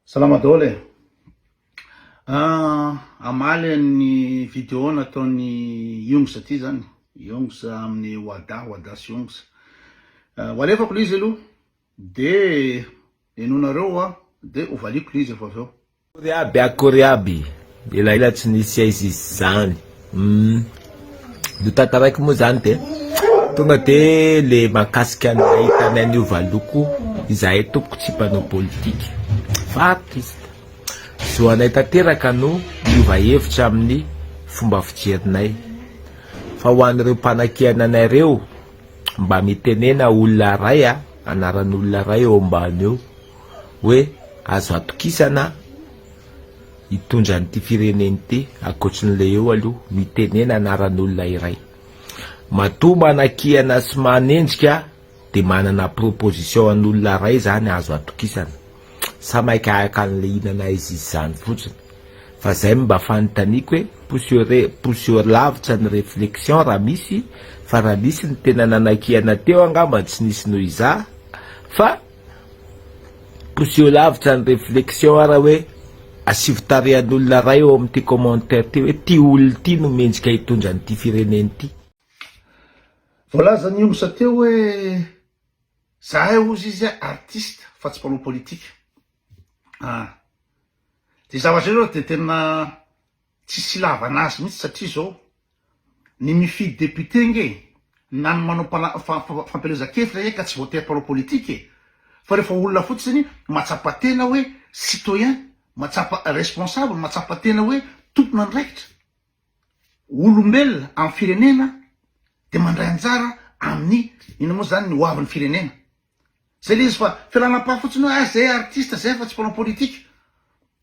Salama daholo e! Hamaly an'ny video nataon'i Youngs ity zany, Youngs amin'ny Wada, Wada sy Youngs. Ho alefako ilay izy aloha, dia henoinareo, dia hovaliako ilay izy efa avy eo. Kory aby a kory aby Elaela tsy nisy aiza izy zany umm no tantaraiko moa zany de tonga de le makasika ny ahitanay niova loko izahay tompoko tsy mpanao politika fa artiste zo anay tanteraka no niova hevitra amin'ny fomba fijerinay fa ho an'ireo mpanakihana anay reo mba mitenena olona ray a anaran'olona ray eo ambany eo hoe azo atokisana Hitondra an'ity firenena ity, ankoatry ny Leo aloha, mitenena anaran'olona iray. Matoa manakiana sy manenjika dia manana proposition an'olona iray izany azo atokisana. Sa maika haka an'i Lehinana izy izany fotsiny? Fa izay no mba fanontaniako e, poussure poussure lavitra ny reflexion raha misy, fa raha nisy ny tena nanakiana teo angamba tsy nisy noho izaho, fa. Poseho lavitra ny reflexion ara hoe asivo tarehan'olona ray ao amin'ity commentaire ty hoe ity olona ity no mendrika hitondra an'ity firenena ity. Voalazan'i Omsa teo hoe zahay hozy izy artiste fa tsy mpanao politika. Ah. Dia zavatra ireo dia tena Tsisy ilavana azy mihitsy satria izao ny mifidy député nge na ny manao fampielezan-kevitra eka tsy voatery mpanao politique e! fa rehefa olona fotsiny mahatsapa tena hoe citoyen, mahatsapa responsable, mahatsapa tena hoe tompon'andraikitra, olombelona amin'ny firenena dia mandray anjara amin'ny inona moa izany ny hoavin'ny firenena. Zay le izy fa fialanam-paha fotsiny hoe ah zay artiste zay fa tsy mpanao politika.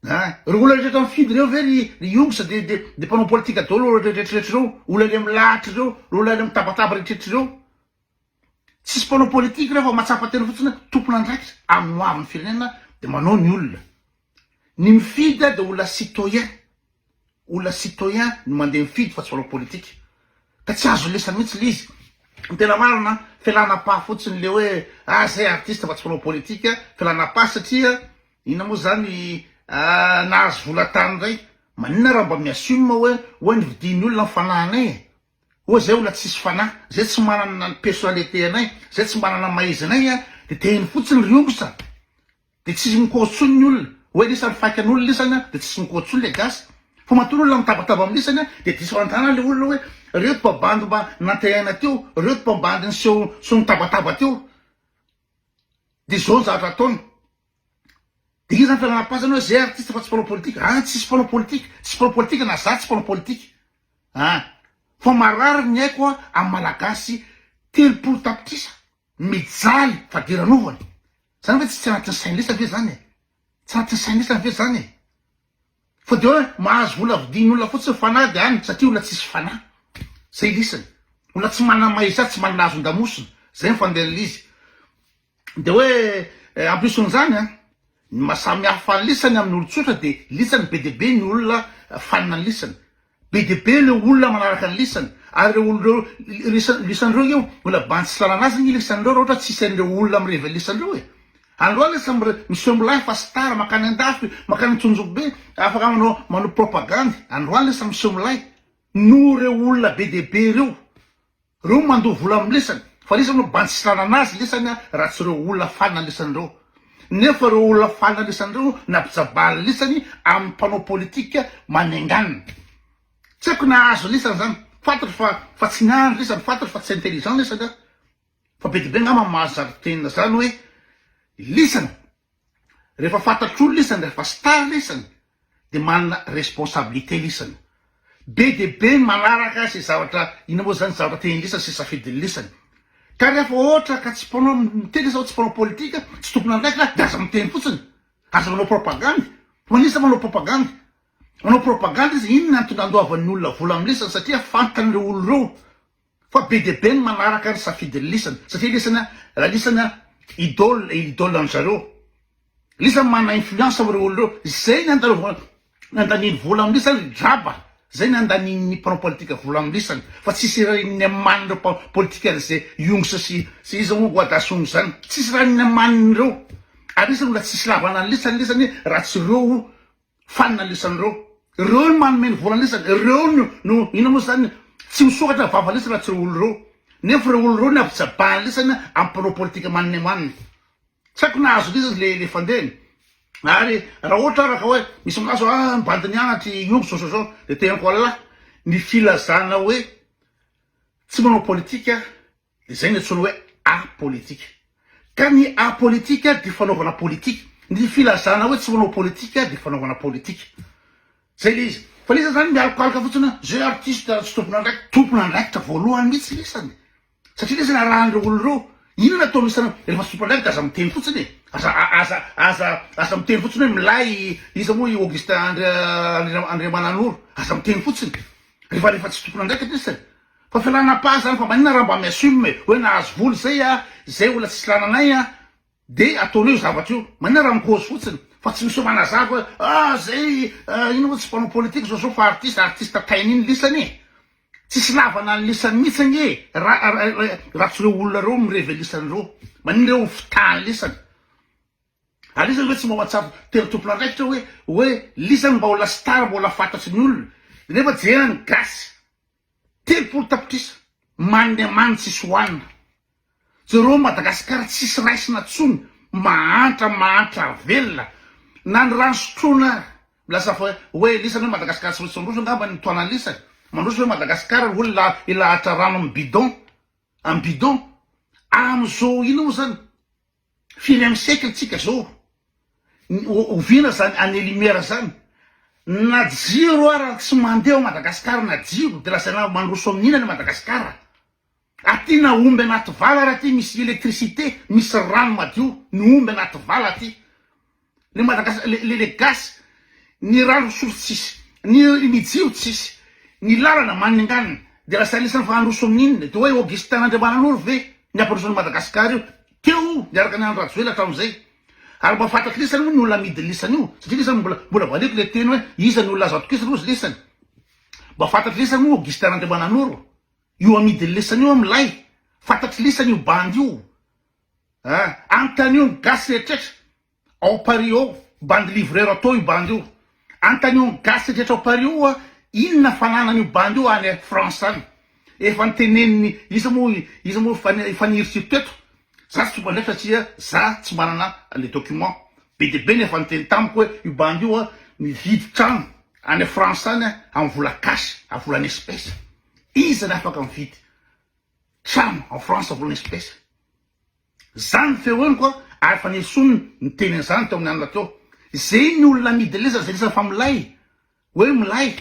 Ah, reo olona rehetra mifidy reo ve ry ry Yong sa de de de mpanao politika daholo reo rehetrarehetra reo, olona any am lahatra reo, reo olona any am tabataba rehetrarehetra reo. Tsisy mpanao politika reo fa mahatsapa tena fotsiny hoe tompon'andraikitra amin'ny hoavin'ny firenena de manao ny olona. Ny mifidy dia olona citoyen, olona citoyen no mandeha mifidy fa tsy mpanao politika, ka tsy azo lesany mihitsy le izy, ny tena marina fialan'ampaha fotsiny le hoe ah zay artiste fa tsy mpanao politika, fialan'ampaha satria inona moa zany nahazo vola tany indray, maninona raha mba mi-assume hoe oay nividian'ny olona ny fanahinay e! Oa zay olona tsisy fanahy, zay tsy manana ny personnalité anay, zay tsy manana ny maha-izy-anay a, de tehiny fotsiny ry ongotra, de tsisy mikoa tsony ny olona, oe lisany faika an' olona lisany a, de tsisy mikoa tsony le gasy, fa matoa ny olona mitabataba am lisany a, de diso an-tanana le olona oe, reo toa bandy mba nantehaina teo, reo toa bandy niseho niseho nitabataba teo, de zao ny zavatra ataony, Dia iza ny fialana-pasana hoe zay artiste fa tsy mpanao politika? Any tsisy mpanao politika, tsisy mpanao politika na za tsy mpanao politika an! Fa marary ny aiko amin'ny malagasy telopolo tapitrisa mijaly fadiranovana. Zany ve tsy tsy anatin'ny sain-dresany ve zany e? Tsy anatin'ny sain-dresany ve zany e? Fa dia hoe mahazo vola vidian'ny olona fotsiny ny fanahy dia any satria olona tsisy fanahy. Zay lisany. Olona tsy manana maha-izy azy, tsy manana azon-damosina. Zay ny fandehan'ilay izy. Dia hoe en plus an'izany an, ny maha samy hafa ny lisany amin'ny olon-tsotra dia lisany be dia be ny olona fanina ny lisany. Be dia be ireo olona manaraka ny lisany. Ary ireo olona ireo, lisany, lisany ireo io, mbola bandy tsy lalana azy ny lisany ireo raha ohatra tsy hisy an'ireo olona mirevy ny lisany ireo e. Androany lasa mire, miseho milay fa star, mankany an-dafy, mankany an-tsonjombe, afaka manao, manao propagandy. Androany lasa miseho milay noho ireo olona be dia be ireo. Reo no mandoa vola am lesany fa lesany no bandy tsisy nanana azy lesany a raha tsy reo olona fanina lesany reo nefa reo olona fanina lesany reo no nampijabahany lesany am mpanao politika manenganina tsy aiko nahazo lesany zany fantatro fa fa tsy niandry lesany fantatro fa tsy intelligent lesany a fa be de be ngamba mahazo zary tenina zany oe lesany Rehefa fantatr'olona isany, rehefa star ilay isany dia manana responsabilité ilay isany. Be dia be ny manaraka izay zavatra, inona moa izany zavatra tian'ilay isany sy safidin'ilay isany. Ka rehefa ohatra ka tsy mpanao miteny izao, tsy mpanao politika, tsy tompon'andraikitra aho dia aza miteny fotsiny. Aza manao propagandy. Ho an'iza izany manao propagandy? Manao propagandy izy, inona no tonga andoavan'ny olona vola amin'ilay isany satria fantany ireo olona ireo. Fa be dia be ny manaraka ny safidin'i lisany satria lisany raha lisany idole et idole an-dry zareo. Lisany manana influence amin'ireo olona ireo. Izay ny andalovany nandaniany vola amin'ny lisany ry draba, izay ny andanian'ny mpanao politika vola amin'ny lisany fa tsy hisy raha inona manin'ireo mpanao politika an'izay Yongsa sy sy iza moa Guadasong izany. Tsisy raha inona manin'ireo. Ary lisany mbola tsy hisy lavana ny lisany lisany raha tsy ireo Fanina lisany reo. Reo no manome ny vola lisany. Reo no no ino mo zany tsy misokatra vava lisany raha tsy reo olo reo. Nefa reo olo reo ny avy jabahany lisany am panao politika manina e manina. Tsy aiko na azo lisany le le fandehany. Ary raha ohatra ara ka oe misy milaza oe ah bandiny anatry i omby zao zao zao de teneniko Allah ny filazana oe tsy manao politika Izay no antsoina hoe art politique. Ka ny art politique dia fanaovana politika. Ny filazana hoe tsy manao politika dia fanaovana politika. Izay ilay izy. Fa ilay izy izany mialokaloka fotsiny hoe izay artiste tsy tompon'andraikitra. Tompon'andraikitra voalohany mihitsy ilay isany. Satria ilay izy no arahan'ireo olona ireo. Inona no ataonao isan'andro? Rehefa tsy tompon'andraikitra dia aza miteny fotsiny e! Aza aza aza aza miteny fotsiny hoe milay i iza moa i Augustin Andria Andriamananoro. Aza miteny fotsiny. Rehefa rehefa tsy tompon'andraikitra isany. Fa fialana pas zany fa maninona raha mba mi assume e hoe nahazo vola zay a zay olona tsisy lananay a de ataonao io zavatra io maninona raha mi cause fotsiny fa tsy miseho manazava hoe ah zay a ino moa tsy mpanao politique zao zao fa artiste artiste tainy iny lisany e tsisy lavana ny lisany mitsy ange ra raha tsy reo olona reo mi reve lisany reo maninona reo ho fitaha ny lisany ary izy zany ve tsy mba mahatsapa tena tompona andraikitra hoe hoe lisany mba ho la star mba ho la fantatry ny olona nefa jerany gasy Telopolo tapitrisa manne man tsy soanina jereo Madagascar tsisy raisina tsony mahantra mahantra velona na ny rano sotroina ary lasa fa oe elisany oe Madagascar tsy maintsy mandroso angamba ny toanan lisany mandroso oe Madagascar ary olona ilahatra rano am bidon am bidon amizao ina mo zany Firy amin'ny siècle tsika zao? Oviana zany année lumière zany? Na jiro ara tsy mandeha ao Madagascar na jiro de lazaina mandroso amin'ina le Madagascar? Aty na omby anaty vala ary aty misy électricité misy rano madio ny omby anaty vala aty. Le Madagascar le le le gasy ny rano fisotro tsisy ny ny jiro tsisy ny lalana maninganina de lasa anisan'ny fahandrosoan'ny inona de hoe Augustin Randriamananoro ve ny ampandroso an'i Madagascar io teo niaraka ny Andry Rajoelina hatramin'izay ary mba fantatr'i lisany moa ny olona amidy ny lisany io satria lisany mbola mbola valiako le teny hoe iza ny olona azo atokisana ozy lisany mba fantatr'i lisany moa Augustin Randriamananoro io amidy ny lisany io milay fantatr'i lisany io bandy io Hein antanio ny gasy rehetrretra ao paris ao bandy livrero atao io bandy io antanio ny gasy rehetrretra ao paris ao oa inona fananany io bandy io any france any efa nteneniny iza mo iza mo efa niritsiko teto za tsy tonga ndraiky satria za tsy manana le document be de be ny efa niteny tamiko oe io bandy io a mividy trano any france any am vola cash a vola en espèce iza ny afaka mividy Cham, en France volana espèce. Zany ny feo henoko a, ary efa nesoiny niteny an'izany teo amin'ny alina teo. Ze ny olona amidy lezany ze lezany fa milay, hoe milay.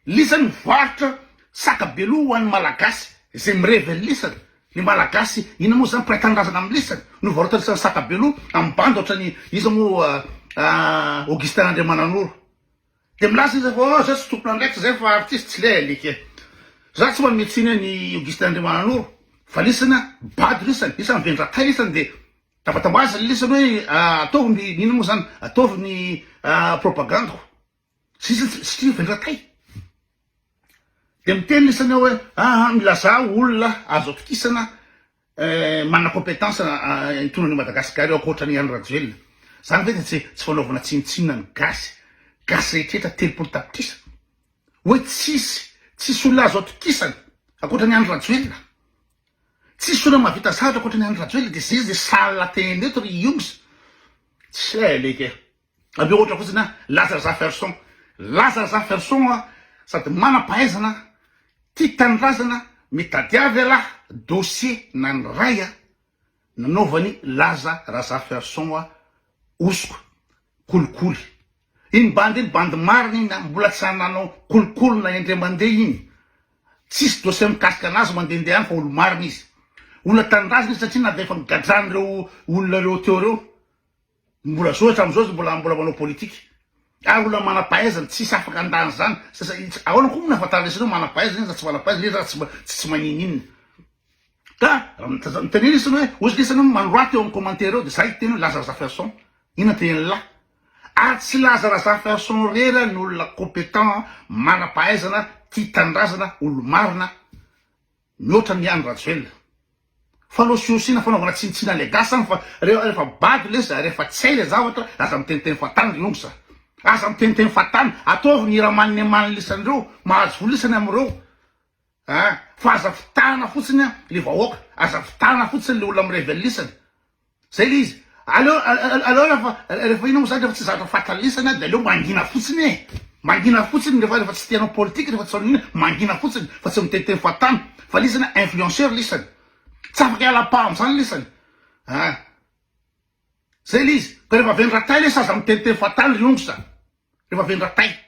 Lezany mivarotra saka be loha ho an'ny malagasy ze mirevy an'ny lezany. Ny malagasy inona moa zany mpiray tanindrazana amin'ny lezany no varotra lezany saka be loha amin'ny bandy ohatran'ny iza moa Augustin Andriamananoro. Dia milaza izy fa oh zay tsy tompon'andraikitra zay fa artiste tsy lé alika e. Za tsy manome tsiny an i Augustin Andriamananoro fa lisana bado lisany, lisany vendratay lisany de tafatao azy le lisany hoe ataovy ny inona moa zany ataovy ny propagandiko sisa satria vendratay de miteny lisany ao hoe aha milazà olona azo atokisana Manana competence hitondra an'i Madagascar io ankoatra an'i Andry Rajoelina. Zany ve de tsy tsy fanaovana tsinontsinona ny gasy. Gasy rehetrretra telopolo tapitrisa. Oe tsisy tsisy olona azo atokisana ankoatra an'i Andry Rajoelina. Tsisy olona mahavita zavatra ankoatra an'i Andry Rajoelina de zay izy de sala tena eto ry Yongz. Tsy hay alika e. Ameo ohatra fotsiny an, Lazar Zafferson. Lazar Zafferson an, sady manam-pahaizana, tia tanindrazana, mitady avy ialahy, dossier na ny ray an, nanaovan'i Laza Razafferson an, hosoka, kolikoly. Iny bandy iny, bandy marina iny an, mbola tsy ary nanao kolikoly na indray mandeha iny. Tsisy dossier mikasika anazy mandehandeha any fa olo-marina izy. Olona tanindrazana izy satria na dia efa nogadrain'ireo olona ireo teo ireo, Mbola zao hatramin'izao izy mbola mbola manao politika. Ary olona manam-pahaizana, tsisy afaka handà an'izany. Ahoana koa moa no ahafantarana isanao manam-pahaizana iza na tsy manam-pahaizana iza sa tsy tsy manininona. Ka raha mitaninana isanao hoe ozy ka isanao manorata eo amin'ny commentaire eo dia za hiteny hoe laza Razafiarison. Inona no tenenin'lah? Ary tsy laza Razafiarison irery ny olona compétent, manam-pahaizana, tia tanindrazana, olo-marina, Mihoatra ny an'i Rajoelina. Falosiosina fanaovana tsinitsina ilay gasy zany fa rehefa bado lesa rehefa tsy hay ilay zavatra aza miteniteny fahatany ry nongsa a. Aza miteniteny fahatany. Ataovy ny hira maninemanin lisany ireo mahazo vola isany amin'ireo a. Fa aza fitahana fotsiny ilay vahoaka. Aza fitahana fotsiny ilay olona mirevel isany. Zay le izy. Aleo aleo refa refa ino mo zany refa tsy zatra fatra lesana de aleo mangina fotsiny e. Mangina fotsiny refa refa tsy te hanao politika refa tsy ino mangina fotsiny fa tsy miteny teny fahatany fa lesana influenceur lesana. Tsy afaka hiala paha amzany lesana a. Zay le izy. Fa refa vendratay lesa aza miteny teny fahatany ry ongo sa. Refa vendratay.